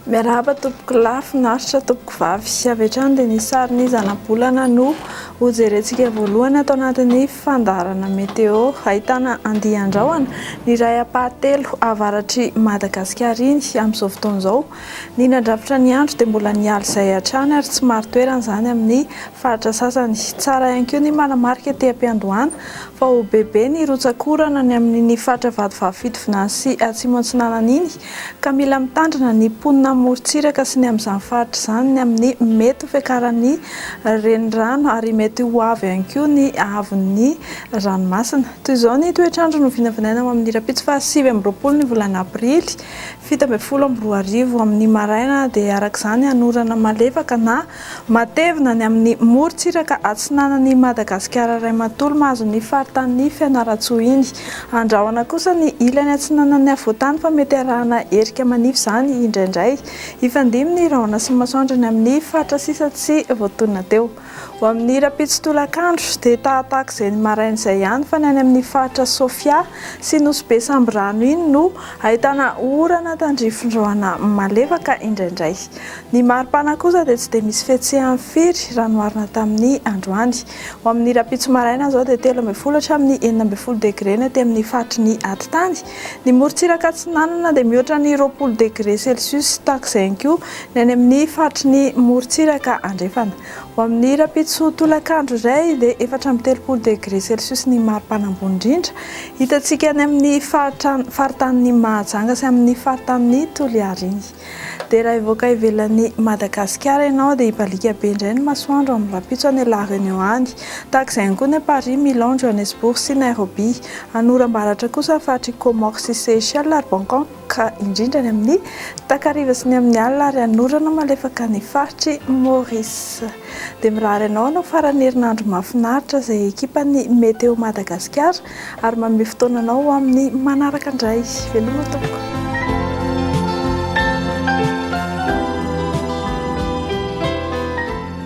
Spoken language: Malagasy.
Miarahaba tompoko lahy, finaritra tompoko vavy. Avy hatrany dia ny sarin'ny zanabolana no hojerentsika voalohany ato anatin'ny fandaharana météo. Ahitana andian-drahona ny iray ampahatelo avaratr'i Madagasikara iny amin'izao fotoana izao. Ny nandrafitra ny andro dia mbola ny hala izay hatrany ary tsy marin-toerana izany amin'ny faritra sasany. Tsara ihany koa ny manamarika ety am-piandohana fa ho bebe ny rotsak'orana ny amin'iny faritra Vatovavy-Fitovinany sy Atsimo Antsinanana iny ka mila mitandrina ny mponina amorontsiraka sy ny amin'izany faritra izany ny amin'ny mety ho fiakaran'ny renirano ary mety ho avo ihany koa ny haavon'ny ranomasina. Toy izao ny toetr'andro no vinavinaina ho amin'ny rahampitso faha sivy amby roapolo ny volana aprily fito ambin'ny folo amby roa arivo amin' ny maraina dia araka izany hanorana malefaka na matevina ny amin' ny morontsiraka atsinanan' i Madagasikara ray manontolo mahazo ny faritanin' ny Fianarantsoa iny. Andrahona kosa ny ilany atsinanan' ny afovoan-tany fa mety harahana erika manify izany indraindray. Hifandimby ny rahona sy ny masoandro ny amin' ny faritra sisa tsy voatonona teo. Ho amin'ny rahampitso tolakandro dia tahatahak'izay ny maraina izay ihany fa ny any amin'ny faritra Sofia sy Nosy be Sambirano iny no ahitana orana tandrifindraona malefaka indraindray. Ny maripana kosa dia tsy dia misy fihetsehany firy raha noharina tamin'ny androany. Ho amin'ny rahampitso maraina izao dia telo ambin'ny folo hatramin'ny enina ambin'ny folo degre ny aty amin'ny faritry ny atitany. Ny morontsiraka atsinanana dia mihoatra ny roapolo degre celsius tahak'izay ihany koa ny any amin'ny faritry ny morontsiraka andrefana. Ho amin'ny rahampitso tolakandro iray dia efatra amby telopolo degre celsius ny maripana ambony indrindra hitantsika any amin'ny faritanin'i Mahajanga sy amin'ny faritanin'i Toliary iny. Dia raha hivoaka ivelan'i Madagasikara ianao dia hibaliaka be indray ny masoandro amin'ny rahampitso any La Réunion any. Tahaka izay ihany koa ny any Paris, Milan, Johannesburg sy Nairobi. Any oram-baratra kosa ny faritr'i Comores sy Seychelles ary Bangkok. ka indrindra any amin'ny takariva sy ny amin'ny alina ary hanorana malefaka ny faritry Maurice. Dia mirary anao hanao faran'ny herinandro mahafinaritra izay ekipan'ny Météo Madagasikara ary manome fotoana anao ho amin'ny manaraka indray. Veloma tompoko.